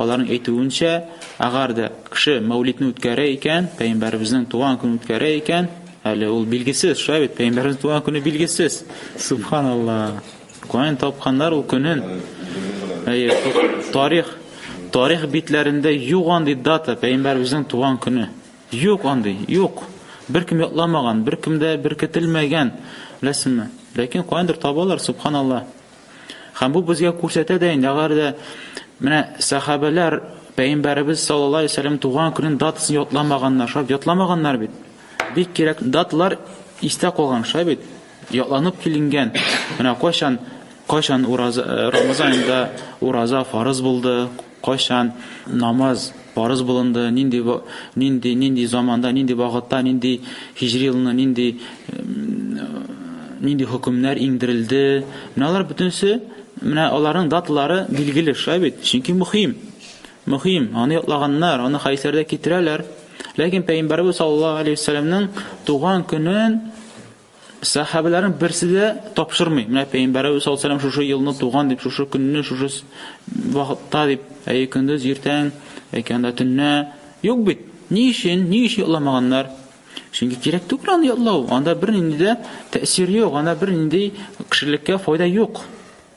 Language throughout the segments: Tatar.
Аларның әйтүенчә, әгәр дә кеше мәүлидне үткәрә икән, пәйгамбәребезнең туган көнен үткәрә икән, әле ул билгесез, шулай бит, пәйгамбәребезнең туган көне билгесез. Субханалла. Каян тапканнар ул көнен? Әйе, тарих тарих битләрендә юк андый дата, пәйгамбәребезнең туган көне. Юк андый, юк. Беркем ятламаган, беркемдә беркетелмәгән, беләсеңме? Ләкин каяндыр табалар, субханалла. Һәм бу безгә күрсәтә дә инде, алар да менә сахабәләр Пәйгамбәребез саллаллаһу алейһи вәсәлләм туган көнен датасын ятламаганнар, шулай ятламаганнар бит. Бик кирәк даталар истә калган шулай бит. Ятланып киленгән. Менә кайчан кайчан ураза э, Рамазанда ураза фарыз булды, Кайчан намаз фарыз булынды, нинди нинди нинди заманда, нинди вакытта, нинди һиҗри елны, нинди нинди хөкемнәр иңдерелде. Менә алар бөтенесе, менә аларның даталары билгеле, шулай бит? Чөнки мөһим. Мөһим, аны ятлаганнар, аны хәйсәрдә китерәләр. Ләкин пәйгамбәрбез саллаллаһу алейһи ва туган көнен Сәхәбәләрнең берсе дә тапшырмый. Менә пәйгамбәрәбез саллаллаһу алейһи ва сәлләм шушы елны туган дип, шушы көнне, шушы вакытта дип, әйе көндез иртән, әйткәндә төнне юк бит. Ни өчен? Ни өчен ятламаганнар? Чөнки кирәк түгел аны ятлау. Анда бер нинди дә тәэсир юк, анда бер нинди кешелеккә файда юк.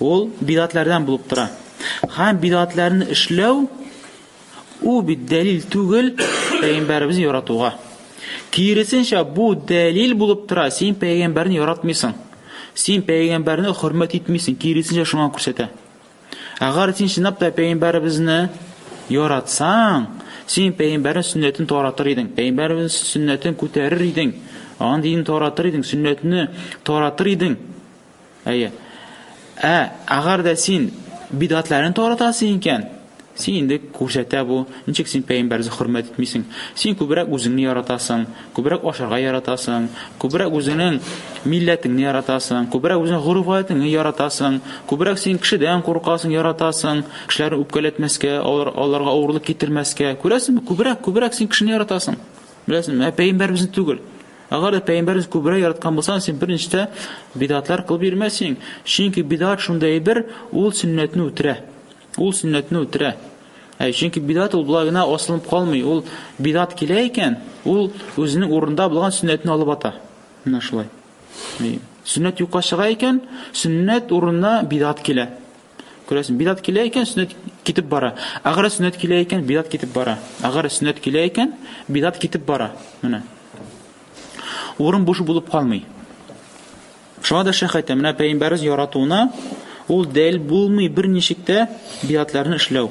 Ул бидгатләрдән булып тора. Һәм бидгатләрне эшләү ул бит дәлил түгел пәйгамбәребезне яратуга. Киресенчә, бу дәлил булып тора, син пәйгамбәрне яратмыйсың. Син пәйгамбәрне хөрмәт итмисең, киресенчә шуңа күрсәтә. Әгәр син чынлап та пәйгамбәребезне яратсаң, син пәйгамбәрнең сөннәтен таратыр идең, пәйгамбәрнең сөннәтен күтәрер идең, аның динен таратыр идең, сөннәтне таратыр идең. Әйе. Ә, әгәр дә син бидгатләрен таратасың икән, син инде күрсәтә бу, ничек син пәйгамбәрне хөрмәт итмисең. Син күбрәк үзеңне яратасың, күбрәк ашарга яратасың, күбрәк үзеңнең милләтеңне яратасың, күбрәк үзеңнең гореф-гадәтеңне яратасың, күбрәк син кешедән куркасың, яратасың, кешеләрне үпкәләтмәскә, алар, аларга авырлык китермәскә. Күрәсеңме? Күбрәк, күбрәк син кешене яратасың. Беләсеңме? Ә пәйгамбәребезне түгел. Әгәр дә пәйгамбәребез күбрәк яраткан булсаң, син беренчедә бидгатлар кылып йөрмәсең. Чөнки бидгат шундый әйбер, ул сөннәтне үтерә. Ул сөннәтне үтерә. Ә чөнки бидгат ул болай гына асылынып калмый. Ул бидгат килә икән, ул үзенең урында булган сөннәтне алып ата. Менә шулай. Сөннәт юкка чыга икән, сөннәт урынына бидгат килә. Күрәсең, бидат килә икән, сөннәт китеп бара. Әгәр сөннәт килә икән, бидат китеп бара. Әгәр сөннәт килә икән, бидат китеп бара. Менә. Урын буш булып калмый. Шуңа да шәх әйтә, менә пәйгамбәрбез яратуына ул дәл булмый берничек тә бидатларны эшләү.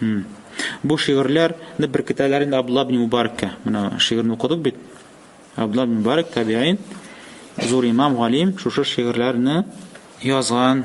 Хм. Бу шигырьләр не беркетәләр инде Абдулла ибн Мубаракка. Менә шигырьне укыдык бит. Абдулла ибн Мубарак табиин, зур имам, галим, шушы шигырьләрне язган.